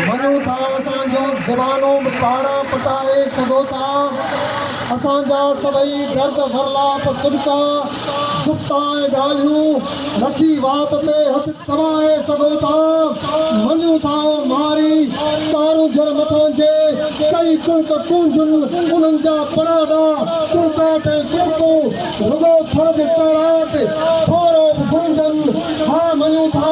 مڃون ٿا اسان جون زبانون به پاڙا پٽائي سگهو ٿا اسان جا سڀئي درد ورلاپ سڏڪا گفتا ۽ ڳالهيون رکي وات تي هٿ دٻائي سگهو ٿا مڃون ٿا ماري ڪارونجهر مٿان جي ڪئي ڪڙڪ ڪونجهن انهن جا پڙاڏا ڪڙڪاٽ ۽ ڪڙڪون رڳو ٿڙ به ڪاڙاٽ ٿورو به گونجهن ها مڃون ٿا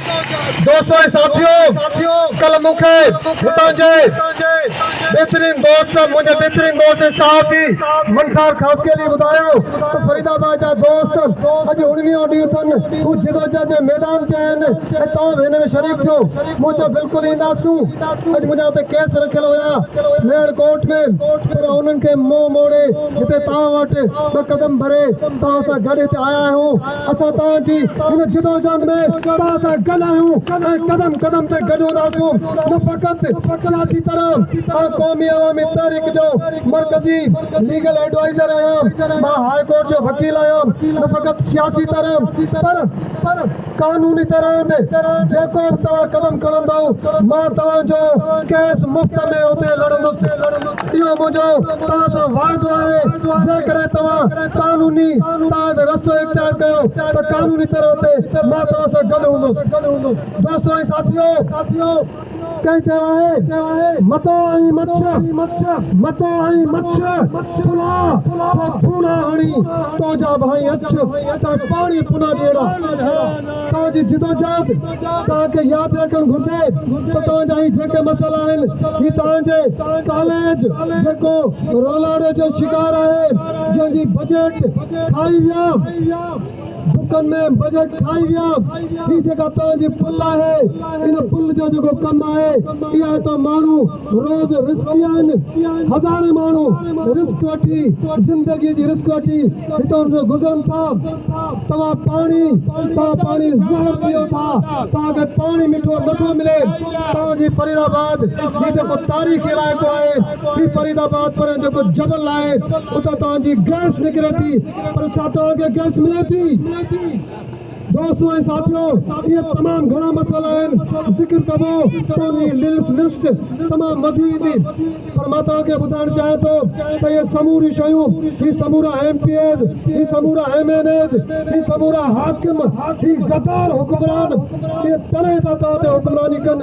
دوستو ۽ ساٿيو ڪلهه مون کي هتان جي بهترين دوست منهنجي بهترين دوست ۽ صحافي منصار خاصخيلي ٻڌايو ته فريد آباد جا دوست اڄ اڻويهون ڏينهن اٿن هو جدوجهد جي ميدان تي آهن ۽ توهان به هن ۾ شريڪ ٿيو مون چيو بلڪل اينداسون اڄ منهنجا هتي ڪيس رکيل هيا ميهڙ ڪورٽ ۾ پر انهن کي منهن موڙي هتي توهان وٽ ٻه قدم ڀري توهان سان گڏ هتي آيا آهيون. اسان توهان جي هن جدوجهد ۾ توهان سان گڏ آهيون ۽ قدم قدم تي گڏ هونداسون، نه فقط سياسي طرح، آء قومي عوامي تحريڪ جو مرڪزي ليگل ايڊوائيزر آهيان، مان هاء ڪورٽ جو وڪيل آهيان، نه فقط سياسي طرح پر قانوني طرح به، جيڪو به توهان قدم کڻندؤ مان توهان جو ڪيس مفت ۾ اتي لڙندس. اهو منهنجو توهان سان وعدو آهي جيڪڏهن توهان قانوني تحت رستو اختيار ڪيو ته قانوني طرح تي مان توهان سان گڏ هوندس. دوستو ۽ ساٿيو! ڪنهن چيو آهي، متو ۽ مڇ، متو ۽ مڇ، ٿلها ٿو ٿوڻا هڻي، تو جا ڀائين اڇ، تنهن پاڻي پنا ڏيڻا. توهان جي جدوجهد توهان کي ياد رکڻ گهرجي ته توهان جا هي جيڪي مسئلا آهن هي توهان جي ڪاليج جيڪو رولاري جو شڪار آهي جنهن جي بجيٽ کائي ويا بڪن ۾ بجيٽ کائي ويا هي جيڪا توهان جي پل آهي ان پل جو جيڪو ڪم آهي اها توهان ماڻهو روز رزقي آهن، هزارين ماڻهو رزق وٺي، زندگيء جي رزق وٺي هتان جو گذرن ٿا. توهان پاڻي، توهان پاڻي زهر پيئو ٿا، توهان کي پاڻي مٺو نه ٿو ملي. توهان جي فريد آباد، هي جيڪو تاريخي علائقو آهي، هي فريد آباد پريان جيڪو جبل آهي، اتان توهان جي گئس نڪري ٿي، پر ڇا توهان کي گئس ملي ٿي؟ دوستو ۽ ساٿيو اهي تمام گهڻا مسئلا آهن ذڪر ڪبو ته ان جي للس لسٽ تمام وڌي ويندي پر مان توهان کي ٻڌائڻ چاهيان ٿو ته اهي سموريون شيون هي سمورا ايم پي ايز هي سمورا ايم اين ايز هي سمورا حاڪم هي غدار حڪمران اهي تڏهن ٿا توهان تي حڪمراني ڪن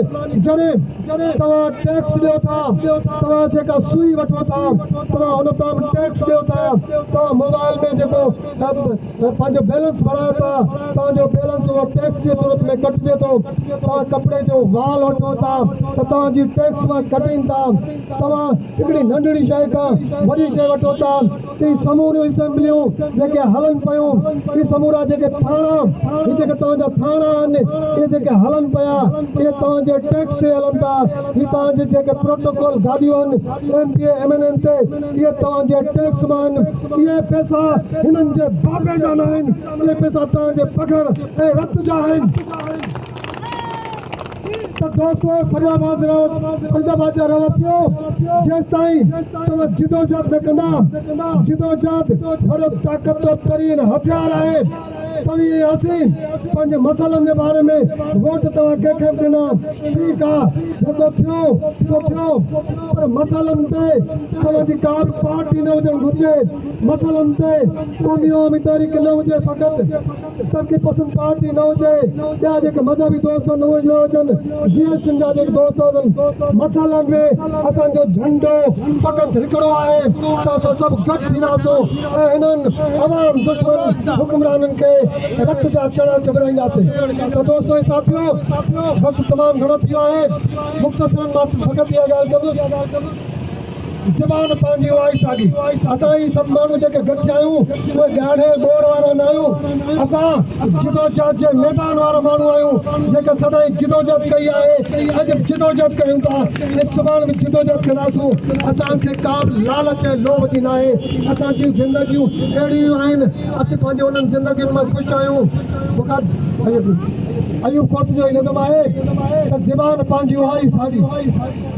جڏهن توهان ٽيڪس ڏيو ٿا توهان جيڪا سوئي وٺو ٿا توهان ان تام ٽيڪس ڏيو ٿا توهان موبائل ۾ جيڪو ۽ پنهنجو بيلنس بڻايو ٿا، توهان جو بيلنس اهو ٽيڪس جي صورت ۾ ڪٽجي ٿو، توهان ڪپڙي جو وال وٺو ٿا ته توهان جي ٽيڪس مان ڪٽين ٿا، توهان هڪڙي ننڍڙي شيء کان وڏي شيء وٺو ٿا ته هي سموريون اسيمبليون جيڪي هلن پيون، هي سمورا جيڪي ٿاڻا، هي جيڪي توهان جا ٿاڻا آهن، اهي جيڪي هلن پيا، اهي توهان جي ٽيڪس تي هلن ٿا، هي توهان جي جيڪي پروٽوڪول گاڏيون آهن، M P M N N تي اهي توهان جي ٽيڪس مان آهن اهي پئسا هنن جي بابي جا نه آهن اهي پئسا توهان جي پگهر ۽ رت جا آهن ته دوستو اي فريد آباد فريد آباد جا رهواسيو جيستائين توهان جدوجهد نه ڪندا جدوجهد وڏو طاقتور ترين هٿيار آهي توهين ۽ اسين پنهنجي مسئلن جي باري ۾ ووٽ توهان ڪنهن کي به ڏنا. ٺيڪ آ جيڪو ٿيو سو ٿيو پر مسئلن تي توهان جي ڪا به پارٽي نه هجڻ گهرجي. مسئلن تي قومي عوامي تحريڪ نه هجي فقط ترقي پسند پارٽي نه هجي ٻيا جيڪي مذهبي دوست آهن اهي نه هجن جي ايس سين جا جيڪي دوست هجن مسئلن ۾ اسان جو جهنڊو فقط هڪڙو آهي ته اسان سڀ گڏ ٿينداسون. انهن عوام دشمن حڪمرانن کي رت جا چڙا چٻرائينداسين ته دوستو ۽ ساٿيو وقت تمام گهڻو ٿي ويو آهي مختصرا مان فقط اها ڳالهه ڪندس زبان پنهنجي اها ئي ساڳي اسان هي سڀ ماڻهو جيڪي گڏجا آهيون اهي ڳاڙهي ٻوڙ وارا نه آهيون اسان جدوجهد جي ميدان وارا ماڻهو آهيون جيڪي سدائين جدوجهد ڪئي آهي اڄ به جدوجهد ڪيون ٿا ۽ سڀاڻ به جدوجهد ڪنداسون اسان کي ڪا به لالچ ۽ لوڀ جي ناهي اسان جون زندگيون اهڙيون ئي آهن، اسين پنهنجي انهن زندگين مان خوش آهيون. بخاري ۽ ايوب ڪوسي جو هي نظم آهي ته زبان پنهنجي اها ئي ساڳي،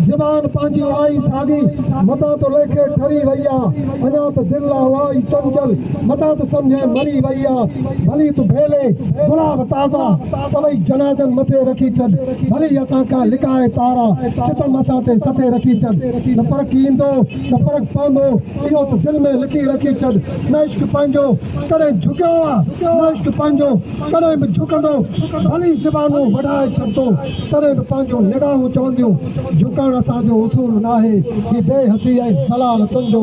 زبان پنهنجي اها ئي ساڳي، متان ته ليکي ٺري وئي آ، اڃا ته دل آ اها ئي چنچل، متان ته سمجهين مري وئي آ، ڀلي تون ڀيلي گلاب تازا سوئي جنازن مٿي رکي ڇڏ، ڀلي اسان کان لڪائي تارا ستم اسان تي سٿي رکي ڇڏ، نه فرق ايندو نه فرق پوندو اهو ته دل ۾ لکي رکي ڇڏ نه عشق پنهنجو ڪڏهن جهڪيو آ نه عشق پنهنجو ڪڏهن به جهڪندو ڀلي زبانون وڍائي ڇڏتو تڏهن به پنهنجون نگاهون چونديون جهڪڻ اسان جو اصول ناهي هي بي حسي ۽ ذلالتن جو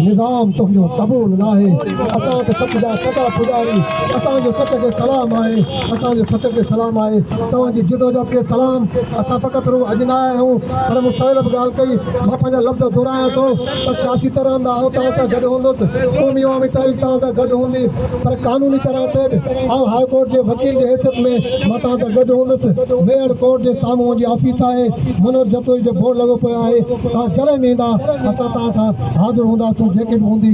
نظام تنهنجو قبول ناهي اسان ته سچ جا پڳا پڄاري اسان جو سچ کي سلام آهي اسان جو سچ کي سلام آهي. توهان جي جدوجهد کي سلام. اسان فقط رڳو اڄ نه آيا آهيون پر مون سويل به ڳالهه ڪئي. مان پنهنجا لفظ دهرايان ٿو ته سياسي طرح به آئون توهان سان گڏ هوندس، قومي عوامي تحريڪ توهان سان گڏ هوندي پر قانوني طرح تي به آئون هاء ڪورٽ جي وڪيل جي حيثيت ۾ مان توهان سان گڏ هوندس. ميهڙ ڪورٽ جي سامهون منهنجي آفيس آهي. منوج جتوئي جو بورڊ لڳو پيو آهي. توهان جڏهن به ايندا اسان توهان سان حاضر هونداسون جيڪي به هوندي.